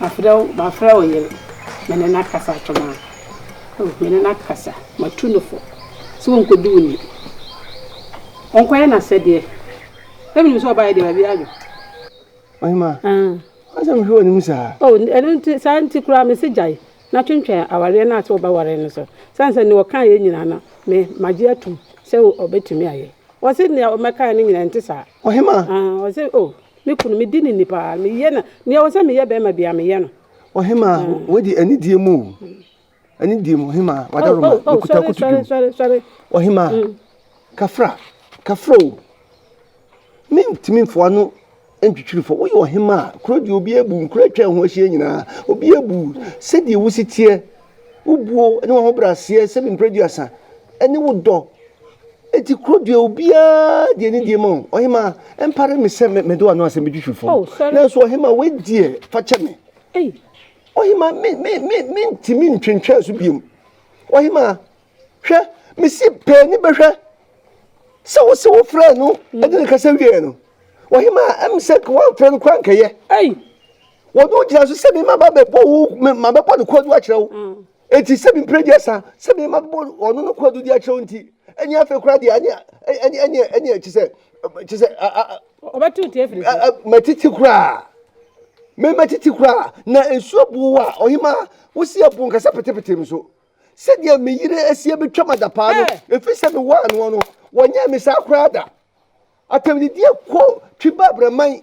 Mafrɛ wo, mafrɛ wo yere, me ne no akasa atwom a, oh, me ne no akasa, matu no fo sɛ ɔnkɔdi wo ni, ɔnkɔyɛ n'asɛdeɛ, na menim sɛ ɔbaeɛ deɛ baabiara adwo. Ɔhema, w'asɛm hwɛ w'anim saa. Oh, ɛno nti, saa nti koraa mese gyae na twentwɛn awareɛ no a sɛ wobɛware no so, sane sɛ deɛ ɔkaeɛ nyinaa no, me, magye atom sɛ ɔbɛtumi ayɛ. Ɔse deɛ ɔmmɛkaeɛ no nyinaa ɛnte saa. Ɔhema. Ah, ɔse, oh. Me kunu, medi no ni paa. Meyɛ no nea ɛwɔ sɛ meyɛ bɛrima biara, meyɛ no. Ɔhemaa, wadi anidie mu o. Anidie mu, ɔhemaa, wadaroma, mekuta akutu dwom. Ɔhemaa, kafra, kafra o. Mentumi mfɔ ano ntwitwiri fɔ. Woyɛ ɔhemaa, kuro deɛ obiara bu, nkuro atwa ho ahyia nyinaa, obiara bu sɛdeɛ wosi teɛ. Wo buo ne w'ahobrɛaseɛ sɛ me mprɛduasa, ɛne wo dɔ, enti kuro deɛ obiara de anidie ma wo. Ɔhemaa, ɛmpare me sɛ mede w'ano asɛm bɛtwi fifo, oh, nanso ɔhemaa wei deɛ fa kyɛ me. Hey. Ɔhemaa, me, me, me, me ntumi ntwentwɛn so biom. Ɔhemaa, hwɛ, mesi pɛɛ ni bɛhwɛ sɛ wo se wo frɛ no ɛde ne kasa wieɛ no. Ɔhemaa, ɛm sɛ wɔamfrɛ no kora nkɛyɛ. Hey. wɔde wo gyina so sɛ mema bɛbɔ wo ma bɛbɔ no kwadu akyerɛ wo mm. enti sɛ mempere deɛ sa sɛ mema bɛbɔ ɔno no kwadu de akyerɛ wo nti ɛne afei koraa deɛ ɛne ɛkyi sɛ kyi sɛ matiti koraa mematiti koraa na nsuo bu wo a ɔhema wo si abu nkasa petepete m so sɛdeɛ me yere asie bɛtwa m ada paa no ɛfiri sɛ mewɔ anoɔ no wɔnyɛ me saa koraa da atɛmdidie kɔ twi ba abraman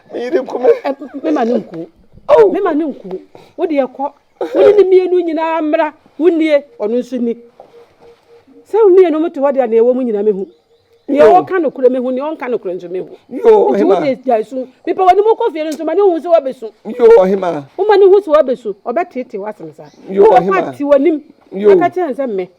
Me yere nku me. Ɛ me ma no nku. Oh. Me ma no nku. Wo deɛ kɔ. Wo ne ne mmienu nyinaa mmra. Wo nie, ɔno nso nni. Sɛ wo mmienu mo te hɔ deɛ nea ɛwɔ mu nyinaa mehu. Nea Yo. ɔka nokorɛ mehu, nea ɔnka nokorɛ nso mehu. Yo, Nti wo ɔhema. deɛ gyae su. Mepɛ w'anim wokɔ fie no nso ma no nhu sɛ woabɛsu. Yo, ɔhema. Woma no hu sɛ woabɛsu, ɔbɛteetee w'asene saa. Yo, Wobɛkɔ ɔhema. ate w'anim Yo. aka kyerɛ no sɛ me.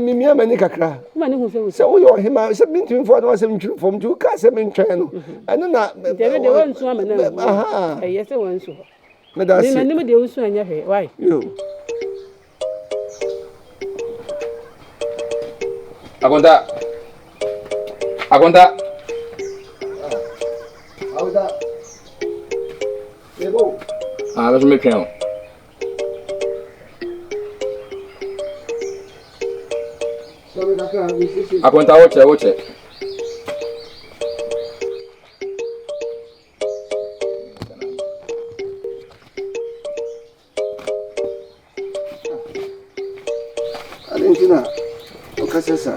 Mimia m'ani kakra sɛ woyɛ ɔhemmaa sɛ mentumi mfa no asɛm ntwiri fam nti wokaa sɛ mentwɛn no mm-hmm. ɛno na akonta akonta akonta ah, yɛbɛwo ah, bɛso metwɛn o Akonta wokyɛ wokyɛ. Adentina, ɔkasa saa.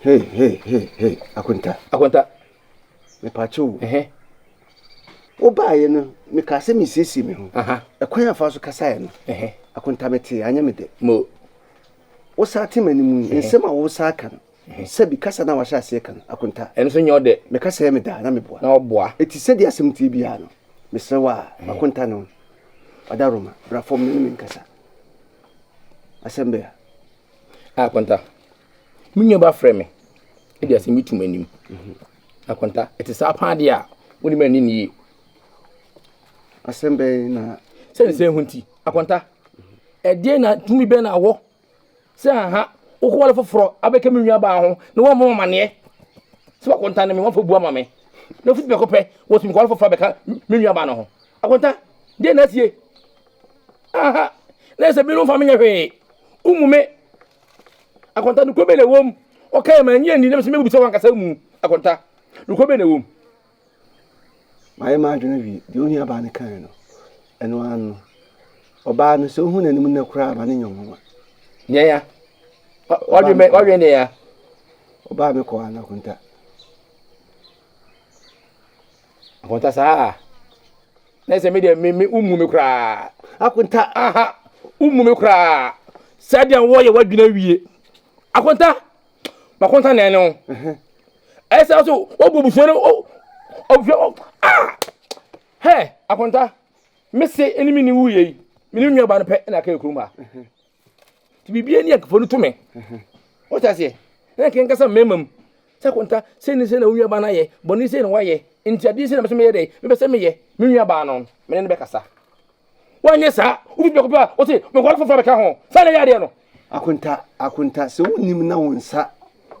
Hey hey hey hey Akonta. Akonta. Mepakye o. Ɛhɛ. Wobaaeɛ no mekaa sɛ mesiesie me ho. Ɛkwan a fa so kasaeɛ no. Ɛhɛ. Akonta metee anyɛ me dɛ. Mo. Wosaa te m'anim yi nsɛm a wosaa ka no. Sɛbi kasa no a wahyɛ aseɛ ka no Akonta. Ɛno nso nyɛ ɔdɛ. Meka sɛ me daa na meboa. Na ɔboa. Eti sɛdeɛ asɛm tie biara no mesrɛ wo a Akonta no Adaroma bra fam na ne me nkasa. Asɛm bɛn a. Akonta. Me nua ba frɛ me. Ebi asɛm bi tum anim. Akwanta, ɛte saa paa deɛ a, wode mɛ ne ne yie. Asɛm bɛn na. Sɛ nsɛn ho nti, akwanta, ɛdeɛ na tumi bɛn na wɔ sɛ aha wokɔwale foforɔ abɛka me nua baa ho na wɔmmɔ amaneɛ sɛ wakwanta ne me wɔmfa bu ama me na fiti bɛkɔ pɛ wɔtumi kɔwale foforɔ abɛka me nua baa no ho akwanta deɛ na asie aha na ɛsɛ bi no mfa menyɛ hwee womu me Akonta, nokorɛ bɛn na ɛwɔ mu? Ɔkaeɛ ma ɛnyɛ nni, na mesɛ mɛbisa wo ankasa mu. Akonta, nokorɛ bɛn na ɛwɔ mu? Mayɛ m'adwene awie. Deɛ ɔhia baa no kaeɛ no, ɛno ara no. Ɔbaa no, sɛ wohu n'anim nnɛ koraa a, ma no nyɛ wo nwanwa. Deɛ ya. Wadwene deɛ ya. Ɔbaa me kɔɔ ana, Akonta? Akonta saa na sɛ me deɛ me me womu me koraa akonta aha womu me koraa saa deɛ wɔyɛ wadwina wie akonta makonta na ɛne wo ɛsɛ so wɔbɔ busua no ɔbusua ah hɛ akonta mese ɛne me ne wuyɛ yi me ne nnuaba no pɛ na ka ɛkurom ha nti biribi ani akafo no to me wata aseɛ na nka nkasa mmarima mu sɛ konta sɛ ne sɛ na wo nuabaa no ayɛ bɔne sɛ na wayɛ nti adeɛ sɛ na mɛsɛ meyɛ dɛ mepɛ sɛ meyɛ me nuabaa no mene no bɛkasa woanyɛ saa wobi biako pɛ a wo se mekɔre foforɔ bɛka ho saa na ɛyɛ adeɛ no akonta akonta sɛ wonim na wo nsa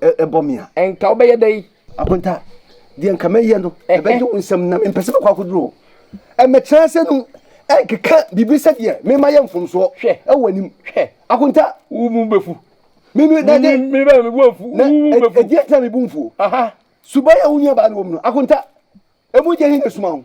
ɛbɔ me a ɛnka wobɛyɛ dɛ Akonta, deɛ nka mɛyɛ no, ɛbɛgye wo nsɛm na mempɛ sɛ mɛkɔ akɔduru hɔ. Ɛmmɛtena ase nom ɛnkeka biribi sɛdeɛ mema yɛ mfomsoɔ wɔ w'anim. Akonta. Wo bo bɛfu. Me nua, dade. Me ba, me bo afu. Na ɛdeɛn nti na me bo mfuo? Suban a wo nuabaa no wɔ mu no, Akonta, ɛmu gye he na ɛsuma wo?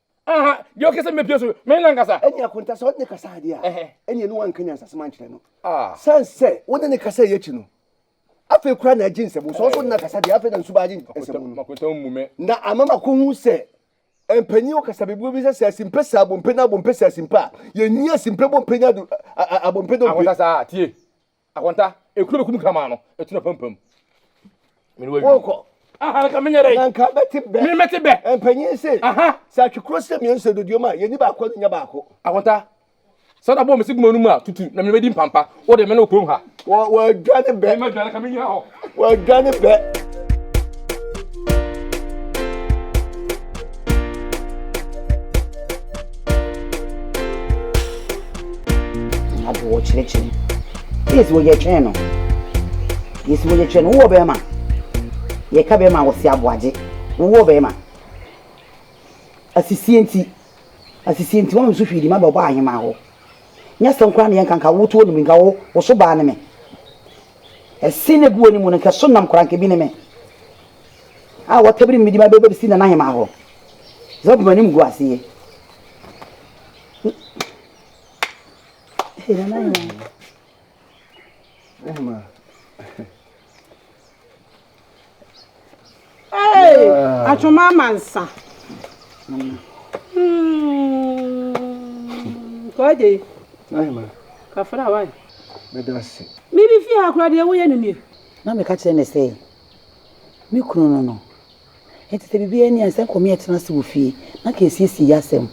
aha deɛ ɔkɛ sɛ mɛpie so mene nankasa ɛne akonta sɛ ɔne kasa adeɛ a ɛne ɛne wanka nyansasɛm ankyerɛ no ah. sane sɛ wo ne ne kasa yɛ akyi no afei koraa na agye nsɛm sɛ ɔso na kasa deɛ afei na nsu baagye nsɛm no na ama makɔhu sɛ mpanyin ɔkasa bebree bi sɛ sɛ asimpɛ sɛ abompɛ na abompɛ sɛ asimpɛ a yɛnyi asimpɛ bompɛ nya do abompɛ dompe akonta saa tie Akonta, ekunu bɛ kum kraman no, etu na pampam. Mene wawi. Wokɔ. Aha, nka menyɛ dɛ. Na nka mɛte bɛ. Me mɛte bɛ. Mpanyin se. Aha. Sɛ atwe kuro sɛ mmienu sɛ doduom a, yɛni baako nya baako. Akonta, sɛ wode abɔ me se guma no mu a, tutu, na me mɛdi mpampa. Wo de, me ne wo kurom ha. Wɔ, wɔadwane bɛ. Me mɛdwane, nka menyina hɔ. Wɔadwane pɛ. Abo wɔkyerɛkyerɛ. Yes, wɔyɛ twɛn no. Yes, wɔyɛ twɛn no. Wowɔ bɛrima. Yɛka bɛrima a wɔse aboagye. Wowɔ bɛrima. Asisie nti. Asisie nti. Wɔn nso hwii di ma bɛbɔ ahema hɔ. Nyɛ sɛm koraa na yɛnka nka wotuo no mi nka wo so baa ne me. Ɛsen no gu wɔn mu no, nka so nam koraa, nka ebi ne me, a wɔtabiri mmedi ma bɛbɛ besi nana hemaa hɔ, sɛ ɔbɛn anim gu ase yɛ. Hey, nana hemaa. Hey, atwoma ama nsa. Kɔde. Ayi ma. Kafra wai. Bɛda se. Me bi fi ha kora deɛ woyɛ no nie. Na meka kyerɛ ne sɛ, me kunu no no. Enti sɛ biribiara ni a, sɛ nkɔ meɛtena ase wɔ fie na ka ɛsiesie yɛ asɛm.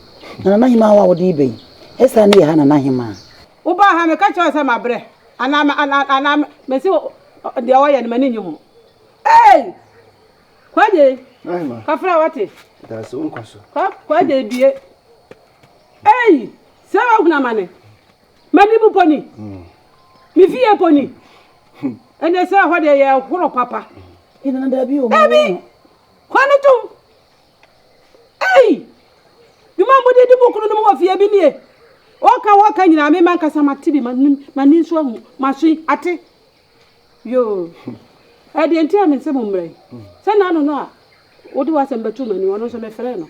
Na Nana Hemaa hɔ a wode reba yi, ɛsane yɛ ha Nana Hemaa? Wobaa ha, meka kyerɛɛ wo sɛ mabrɛ anaa ma, anaa, anaa masi wo, deɛ wɔyɛ no m'ani nnye ho. Ei! Kwagye, kɔfrɛ wate. Daase, wonkɔ so. Kwa, kwagye bie. Ei! Sɛ wahunu amane. M'anim mpo ni. Mm. Me fie mpo ni. Ɛnɛ sɛ ɛhɔ deɛ yɛ horo papa. Ɛnana daabi o. Daabi! Kwa no tom. Ei! Dwuma a mode di mo kununom wɔ fie bi nie. Wɔka wɔka nyinaa me mankasa mate bi, manim, m'ani nso ahu, m'aso yi ate. Yoo. Ɛdeɛ nti a me nse mo mmrɛ yi. Sɛ nano no a wode w'asɛm bɛto m'anim, ɔno nso mefrɛɛ no.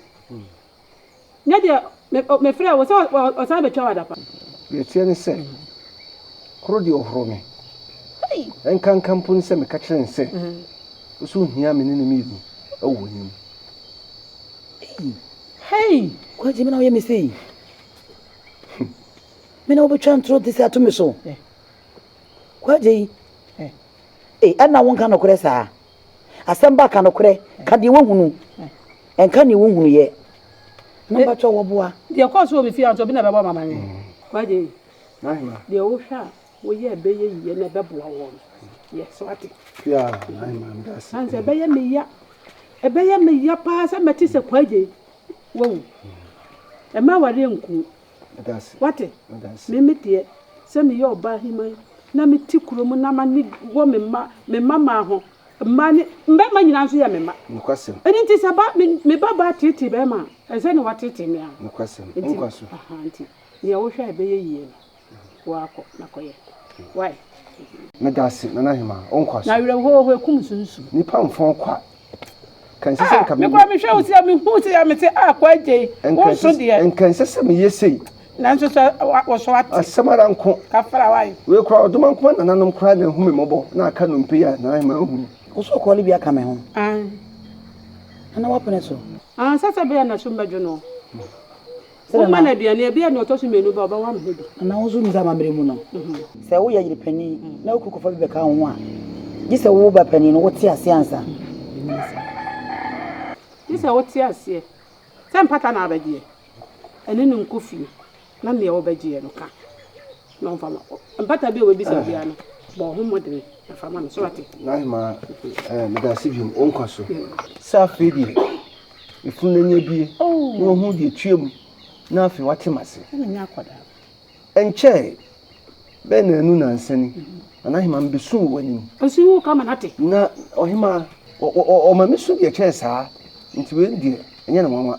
Nyɛ deɛ me o mefrɛɛ wo sɛ ɔ ɔ ɔsan bɛtwa wo adapa. Deɛ ɛteɛ ne sɛ, koro deɛ ɔhoro me. Ɛnkanka mpo ne sɛ meka kyerɛ no sɛ, Wo so hia me ne no mmienu wɔ w'anim. Ei! Hei! Kwagye, me na woyɛ me sei? Me na wobɛtwa ntorɔ nte sei ato me so? Kwagye, ei, adɛn na wonka nokorɛ saa? Asɛm ba ka nokorɛ. Ka deɛ woahunu. Nka deɛ wohunuiɛ. Mpakyɛw wɔboa. Deɛ ɛkɔɔ so wɔ me fie ha nso obi na ɛbɛbɔ me amanneɛ. Kwagye, deɛ wohwɛ a woyɛ a ɛbɛyɛ yie na ɛbɛboa wo no, yɛ so ate. Kua, Nahima meda ase. Ansa ɛbɛyɛ me ya. Ɛbɛyɛ me ya paa sɛ mɛte sɛ Kwagye wawu. Ɛmma awareɛ nku wo. Wate? Me, me deɛ, sɛ meyɛ ɔbaaheman na mete kuro mu na m'ani wɔ me mma, me mmammaa ho, mmaa ne, mmarima nyinaa nso yɛ me mma. Nokwasɛm. Ɛno nti sɛ ba, me, me babaa teetee barima a, ɛsɛ sɛ na wateetee me ara. Nokwasɛm. Nti, Nkwa so. aha, nti, deɛ wohwɛ a ɛbɛyɛ yie no, woakɔ na kɔyɛ. Wai? Meda ase, Nana Hemaa. Wo nkwa so. Na awerɛhoɔ hɔ, ɛkum nso nsuo. Nnipa mfa ɔkwa Nka ɛnsɛ sɛ nka me. Mekora mehwɛ wo sɛ mehu sɛ yɛ mete a kɔ agye yi. Wo nso deɛ. Nka ɛnsɛ sɛ meyɛ sei. Nanso sɛ wɔso ate. Asɛm ara nko. Kafra wae. Wei kora ɔdoma nko a nananom kora na ahu me mmɔbɔ na aka nnompe yi a na ahema ahu no. Wo so ɔkɔɔ no bi aka me ho. Ae. Ana woapene so. Ansa sɛ ɛbɛyɛ na sum bɛdwo no. Momma no aduane, ebia nea ɔtɔ so mmienu ba a, ɔbɛwo amena bi. Anaa wo nso nim sɛ amammerɛ mu no, sɛ woyɛ yere panin na wo kunu kɔfa bi bɛka wo ho a, gye sɛ wo ba panin no, wote aseɛ ansa. Gye sɛ wote aseɛ sɛ mpata na abɛgyeɛ, ɛne no nkɔ fie na nea wɔbɛgyeɛ no ka. Na ɔmfa ma wo. Mpata bi a w'abisa wo biara no, bɔ wo ho mmɔdene na fa ma no. So w'ate? Nahima, Ɛɛ, meda ase biom. Wo nkwa so. Sɛ afei deɛ efunu n'ani abue na wahu deɛ etua mu na afei w'ate m'ase. Ɛna nyɛ akwadaa. Ɛnkyɛe, bɛyɛ nnanu nnansa ni, na Nahima mebesu wɔ w'anim. Nsu wo ka ma no ate. Na ɔhemaa, ɔ, ɔ, ɔ, ɔma mesu deɛ ɛkyɛn saa, nti wei deɛ ɛnyɛ no nwanwa.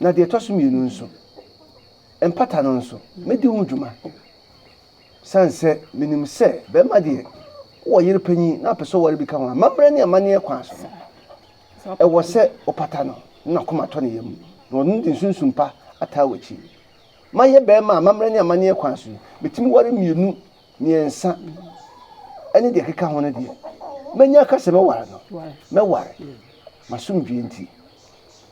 Na deɛ ɛtɔ so mmienu nso, mpata no nso, mɛdi ho dwuma. Ɛsiane sɛ menim sɛ barima deɛ, wowɔ yere panyin na wopɛ sɛ woware bi ka ho a, amammerɛ ne amanneɛ kwan so no, ɛwɔ sɛ wopata no na n'akoma tɔ ne yam, na ɔno de nsunsum pa ataa w'akyi. Mayɛ barima a amammerɛ ne amanneɛ kwan so yi, metumi ware mmienu, mmiɛnsa ne deɛ ɛkeka ho no deɛ, mɛnya aka sɛ mɛware no, mɛware, m'asomdwoeɛ nti.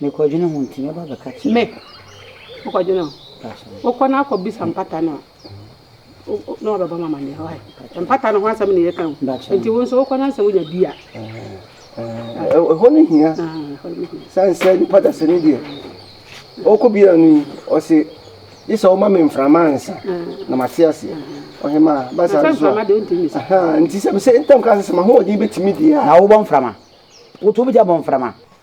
Mekɔdwene ho nti mɛba abɛka kyerɛ. Mep, wokɔdwene ho. Wokɔ na akɔbisa mpata no a, na wabɛbɔ me amaneɛ. Why? Mpata no ho asɛm na yɛka o. Nti wo nso wokɔ na sɛ wonya bi a. Ɛhɔ no hia. Sane sɛ nipa dasɛ no deɛ, ɔkɔ bi a no yi, ɔse, gye sɛ woma me mframa ansa na mate aseɛ. Ɔhemaa, ba saa nso a. Nti sɛ mesɛ ntam ka sɛ sɛ m'ahoɔden bɛtumi deɛ a. Na wobɔ mframa? Wotu wobɛtumi abɔ mframa?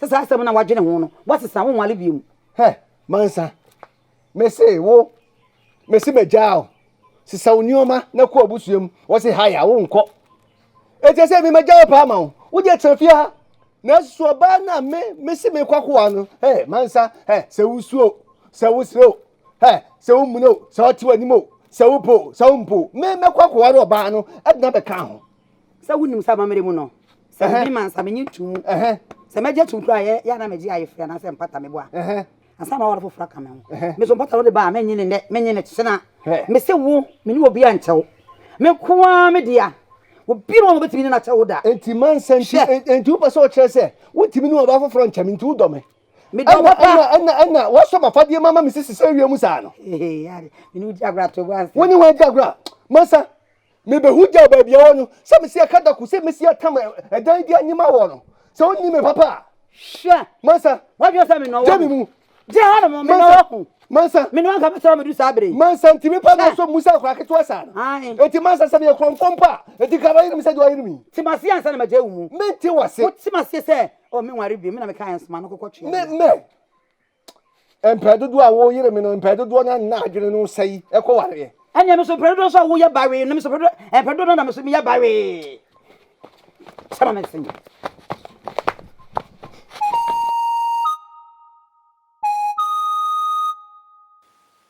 Sɛ saa asɛm no a wadwene ho no, woasesa wo nwale bio mu. Hɛ, mansa, mese wo, mese magyaa wo, sesa wo nneɛma na kɔ abusua mu. Wɔse haya, wonkɔ. Ɛkyɛ sɛ me magya wo paa ma wo, wo deɛ tena fie ha. Na so ɔbaa no a me, mese mekɔ akowa no, hɛ, mansa, hɛ, sɛ wosuo o, sɛ wosrɛ o, hɛ, sɛ wommuna o, sɛ ɔte w'anim o, sɛ wopɛ o, sɛ wompɛ o, me mɛkɔ akɔware ɔbaa no de no abɛka ho. Sɛ wonim sɛ amammerɛ mu no, sɛ obi ma nsa menye ntom mu. Sɛ mɛgye tom koraa yɛ yɛ na megye ayefiri anaasɛ mpata mebɔ a, ansa ma aware foforɔ aka me ho. Me so mpata no de ba a, menye ne nnɛ, menye ne kyena. Mese wo, me ne obiara nkyɛ wo. Me nko ara me dea. Obi ne wɔn a wɔbɛtumi ne no akyɛ wo da. Enti ma nsa nti, enti wopɛ sɛ ɔkyerɛ sɛ wontumi ne ɔbaa foforɔ nkyɛ me nti wodɔ me? Medɔ wo papa. Ɛna ɛna ɛna wɔasɔ m'afadeɛ ma ma mesisi sɛ awia mu saa no. Hehe, yare. Me ne wo gye agorɔ ato wo ansa. Wo ne wɔn agye agorɔ a, ma nsa. Mebehu gyaw baabi a ɔwɔ no, sɛ mesi akadako, sɛ mesi atam ɛdan bi anyem awɔ no, sɛ onni me papa a. Hwɛ! Mansa. Wadwene sɛ me na ɔwɔ ho. Gye me mu. Gye hɔ nom, me na ɔwɔ ho. Mansa. Me na ɔnka bɛsɛ ɔmo du saa bere yi. Mansa nti me pa na so mu sɛ akora ketewa saa no. Ae. Enti mansa sɛ meyɛ korɔmfoɔ mpo a, enti nka wayere me sɛ deɛ wayere me yi. Te m'ase ansa na magyae wo mu. Mente w'ase. Wote m'ase sɛ, oh, menware bio, me na mekae nsoma no kɔkɔtwea no. Me, me. Mpɛn dodoɔ a woyere me no, mpɛn dodoɔ no na adwene no sɛe ɛkɔ wareɛ. Ɛnneɛ me nso mpɛn dodoɔ nso a woyɛ bawee no, me nso mpɛn dodoɔ no na me nso meyɛ bawee. Sɛ ma me nsɛm yi.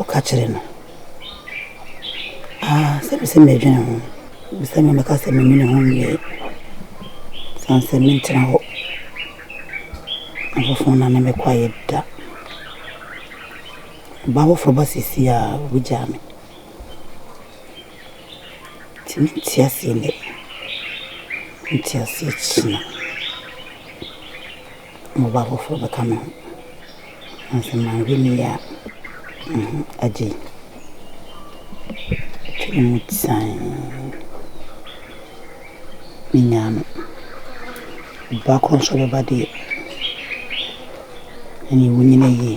ɔka kyerɛ no. Ah, sɛ me sɛ mɛdwene ho, me sɛ mɛka sɛ me mene ho nyɛ, san sɛ mentena hɔ. Afoforo na ne mɛkɔ ayɛ da. Ɔbaa foforɔ ba sisi a, ɔbɛgyaa me. Nti mente aseɛ nnɛ, mente aseɛ kyena. Mmoba afoforɔ bɛka me ho. Nanso manhwɛ no yie a, mm agye yi atwam mu tsann. Menyaa no. Ɔbaa korɔ nso bɛba deɛ, ɛnneɛ wonnyina yie.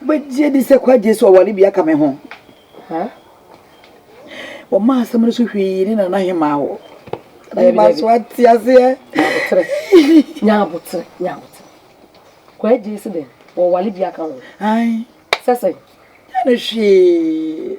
Wobɛgye adi sɛ kwagye so aware bia ka me ho? Wɔma asɛm no so hwii ne nana hemaa hɔ. Hemaa so ate aseɛ. Nyabotere, nyabotere. Kwagye so dɛ wɔware bia ka ho. Sɛsɛ. Ɛne hwee.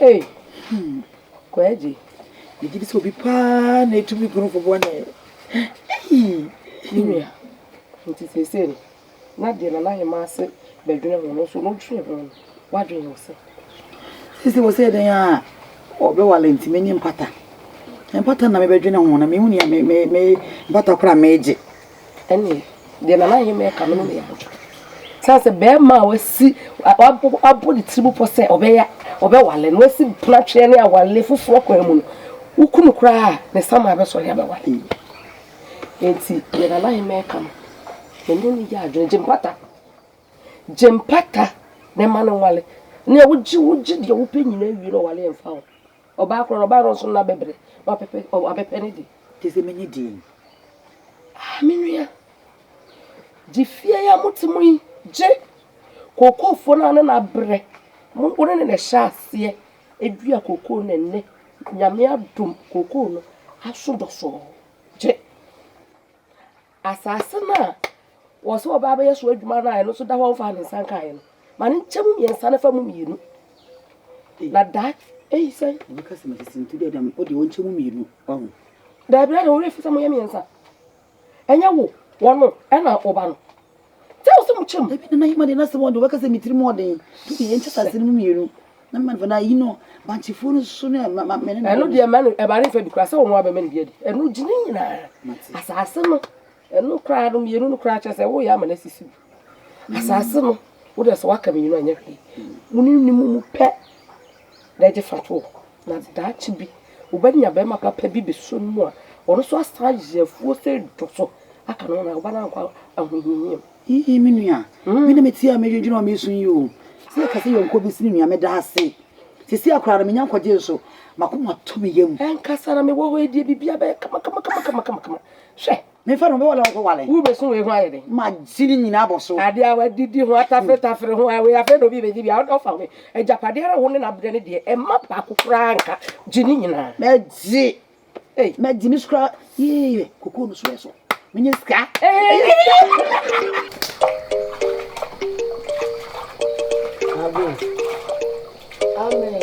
Ei hmm Kwagye megye di sɛ obi paa na etumi gu no fo bɔne ei me nua nti seesei no na deɛ nana ahema ase bɛdwene ho no nso no dwene ho no wadwene ho sɛ seesei wɔ sɛ dɛn a ɔbɛwale nti menye mpata mpata na mebɛdwene ho na mehu nea me me me mpata koraa megye Ɛnneɛ, deɛ Nana Ahemma reka no, me ne yɛ abotwa. Sane sɛ bɛrima a wasi wabɔ ne tirim pɔ sɛ ɔbɛyɛ ɔbɛwale no wasi penatweɛ ne awale foforɔ kwan mu no, wokunu koraa a ne sama bɛsɔre abɛwale yi. Enti deɛ Nana Ahemma reka no, me ne ne yɛ adwene. Gyempata, gyempata na ɛma no nwale. Nea wogye wogye deɛ wopɛ nyinaa wie na ɔwale mfa wo. Ɔbaa korɔ no, ɔbaa no nso no abɛbrɛ, na wapɛpɛ, wabɛpɛ ne de. Gye sɛ menye din. Ah, me nua, gye fie yi a mote mu yi, gye! Kookoofo no a ne no abrɛ, mo, wo ne ne na ɛhyɛɛ aseɛ dua kookoo na ɛnnɛ, Nyame adom, kookoo no aso dɔsɔɔ. Gye! Asase no a wɔwɔ sɛ wɔba abɛyɛ so adwuma no a ɛno nso da hɔ a wɔmfaa ne nsa nkaeɛ no, ma no nkyɛ mu mmiɛnsa na fa mu mmienu. Na daa eyi sɛn? Wɔbɛka sɛ mede sento dɛ dam o deɛ wɔnkyɛ mu mmienu ɔho. Daabi ara na wɔwerɛ fi sɛ moyɛ mmiɛnsa. Ɛnyɛ wo, wɔn no, ɛna wo ba no. Sɛ wo sɛ mo kyɛm. Ebi nana yɛ ma de na sɛ wɔn de wɔbɛka sɛ me tirim ɔden. To yɛ nkyɛ sase no mu mmienu. Na mma no na yi no bankyefoɔ no so no ma ma mene no. Ɛno deɛ mma no ɛbare mfa bi koraa sɛ wɔn a bɛma no bi adi. Ɛno gye ne nyinaa. Asase no ɛno koraa no mmienu no koraa kyerɛ sɛ woyɛ ama no asisi bi. Asase no wo deɛ sɛ waka mmienu anyɛ hwee. Mo ne ne mu mu pɛ na ɛgye fa toɔ. Na daakye bi, wobɛnya barima papa bi bɛso no mu a, ɔno nso asan ayɛ afuo sɛ dɔ so aka no ho na wobɛna nkɔ ahohiahiam. Ii, me nua, me na metie a medwendwene a meresu yi o. Sɛ yɛka sɛ yɔnkoɔ bi si ne nua, meda ase. Seesei a koraa no, menya nkwagyeɛ nso. M'akoma atɔ me yam. Ankasa na mewɔ hɔ yi deɛ, biribiara bɛyɛ kama kama kama kama kama kama. Hwɛ! Memfa no, mebɛwale a wɔkɔwale. Wubeso wei ho ayɛ den. Ma si ne nyinaa bɔ so. Ade a wɔadidi ho, ataferetafer ho, wei afei na obi rebegye bi a, ɔfa ho bɛ. Agyapadeɛ ara a wo ne no abrɛ no deɛ, ɛmma baako koraa nka. Gye ne nyinaa. Mɛgye. Ei. Mɛgye ne so koraa. Yee, kokoo no so yɛ so. Menyɛ sika. Amen. Amen.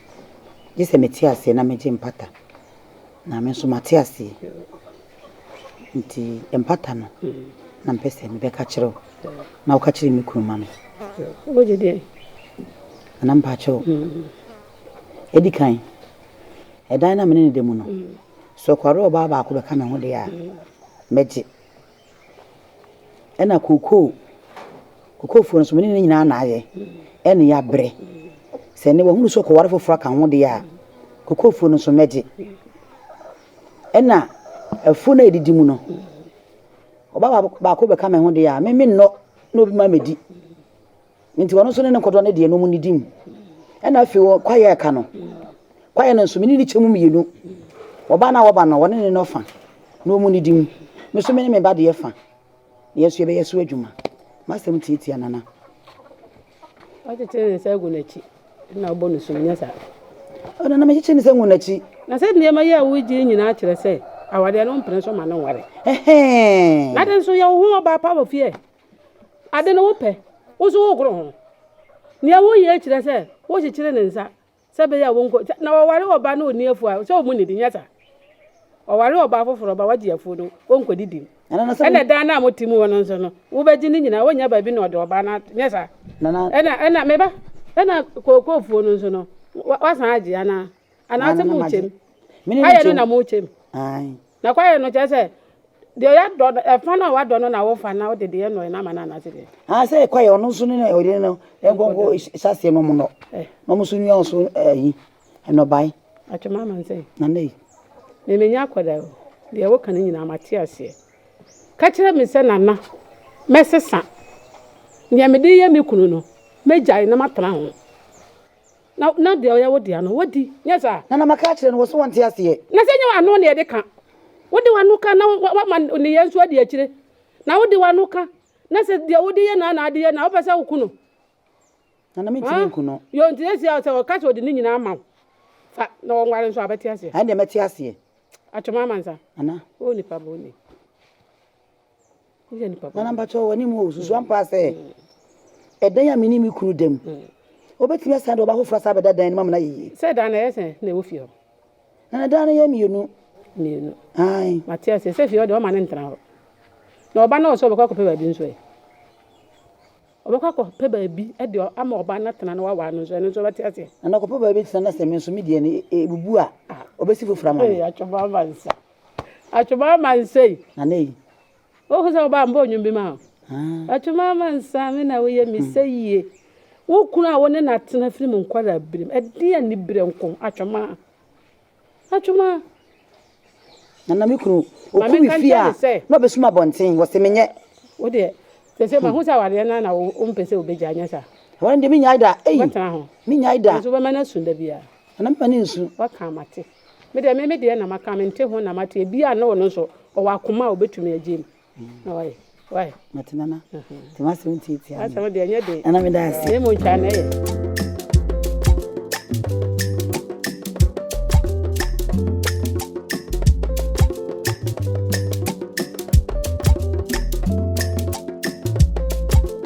Gye sɛ mete aseɛ na megye mpata. Na me nso mate aseɛ. Nti mpata no na mepɛ sɛ mebɛka kyerɛ wo na woka kyerɛ me kunu ma me. Wogye deɛ? Nana mpakyɛ o. Ɛdi kan, ɛdan na mene ne da mu no, sɛ ɔkware ɔbaa baako bɛka me ho deɛ a, mɛgye. Ɛna kokoo, kokoofoɔ no nso me ne ne nyinaa na ayɛ ɛne yɛabrɛ. Sɛ ɛnɛ wahunu sɛ ɔkɔware foforɔ aka ho deɛ a, kokoofoɔ no nso mɛgye. Ɛna afuo no a ɛdidi mu no, ɔbaa baako bɛka me ho deɛ a, me mennɔ na obi ma mɛdi. Enti ɔno nso ne ne kodoɔ no deɛ no ɔmo nidi mu. Ɛna afei wɔ kwaeɛ a ɛka no, kwaeɛ no nso me ne ne kyɛ mu mmienu. Ɔbaa no a wɔba no, wɔne ne no fa na ɔmo nidi mu. Me nso me ne me ba deɛ fa, na yɛn nso yɛbɛyɛ so adwuma. M'asɛm tiatia Nana. Ɔkyekyere ne nsa gu n'akyi na ɔbɔ no sum, nyɛ saa? Ɔ Nana mekyekyere ne nsa gu n'akyi. Na sɛ nneɛma yi a wogye nyinaa kyerɛ sɛ awadeɛ no wompene so ma no nware. Ɛhɛɛ. N'ade nso yɛ wo ho ɔbaa pa wɔ fie. Ade no wopɛ, wo nso wogoro ho. Nea woyɛ yi kyerɛ sɛ wokyekyere ne nsa sɛ ɛbɛyɛ a wɔnkɔ sɛ na ɔware ɔbaa na onni afuw a sɛ wɔn nnidi, nyɛ saa. Ɔware ɔbaa foforo ba wagye afuw no, wɔnkɔdidi. Ɛnna dan no a mote mu hɔ no nso no, wobegye ne nyinaa, wonnya baabi na ɔde ɔbaa no ato, nyɛ saa. Ɛnna, ɛnna, me ba, ɛnna kookoofuo no nso no, wa, wasan agye anaa? anaasɛ mo nkyɛm kwaeɛ no na mo nkyɛm na kwaeɛ no kyerɛ sɛ deɛ yɛdɔ ɛfa no a wadɔ no na wofa na wode deɛ nɔɛ no ama no anaasɛ deɛ ah sɛ kwaeɛ ɔno nso ne ɔde no nkɔnkɔ hyɛaseɛ no mu nɔ eh. na ɔmo nso nua ɔso ayi eh, ɛnɔbae atwema ama nsɛ na nɛ memenya akɔda o deɛ woka no nyinaa mate aseɛ ka kyerɛ me sɛ nana mɛsesa nea mede yɛ me kunu no mɛgyae na matena ho Na, na deɛ ɔyɛ wo dea no, wadi. Nyɛ saa? Na, na maka akyerɛ no, wɔso wɔnte aseɛ. Na sɛ nyɛ w'ano na yɛde ka? Wode w'ano ka, na wa, wama nneyɛɛ nso adi akyire. Na wode w'ano ka, na sɛ deɛ wode yɛ no ara na ade yɛ no a, wopɛ sɛ woku no. Na, na mentumi nku no. Ɔn, yo, nti seesei sɛ ɔka sɛ ɔde ne nyinaa ama wo, fa, na wɔnware nso a, wobɛte aseɛ? Ɛnneɛ mɛte aseɛ. Atwom amansa. Ana? O nipa bɔne. Nana mpakyɛw wɔ anim hɔ o, susu ampa sɛ ɛdan a me ne me kunu da mu, obetumi asan de ɔba foforo asan abɛda dan no mu ama no ayɛ yie. Sɛ dan no ɛyɛ sɛn na ɛwɔ fie hɔ? Nana dan no yɛ mmienu. Mmienu. Ae. Mate aseɛ. Sɛ fie hɔ deɛ ɔma no ntena hɔ. Na ɔba no ɔsɛ ɔbɛkɔ akɔpɛ baabi nso ɛ. Ɔbɛkɔ akɔpɛ baabi de ama ɔba no atena na wawa no nso ɛno nso ɔbɛte aseɛ. Nana ɔkɔpɛ baabi tena na sɛ me nso me deɛ no ebubu a ɔbɛsi foforɔ ama me. Ee atwɔba ama nsa. Atwoma ma nsa yi. Nana yi. Wohu sɛ ɔbaa mbɔ nnwom bi ma o. Atwoma ma nsa me na woyɛ me sɛ yie. Wo kunu a wo ne no atena firi mo nkwadaa birim. Ɛdeɛ ani berɛ nko atwoma. Atwoma. Nana me kunu oku me fie a na ɔbɛsum abɔnten wɔse menyɛ. Wo deɛ sɛ sɛ mahu sɛ awareɛ no na wompɛ sɛ wobɛgya nyɛ saa. Wɔn deɛ menyae da. Wobɛtena ho. Menyae da. Nso wobɛma no asu da biara. Nana mema no nsu. Waka mate. Me deɛ me me deɛ na maka, mente ho na mate, ebiaa na ɔno nso ɔwɔ akoma a ɔbɛtumi agye mu. Na wae, wae. Mate nana, nti m'asɛm tiatia me. Asɛm deɛ ɛnyɛ den. Nana meda ase. Ɛmu ntwa na ɛyɛ.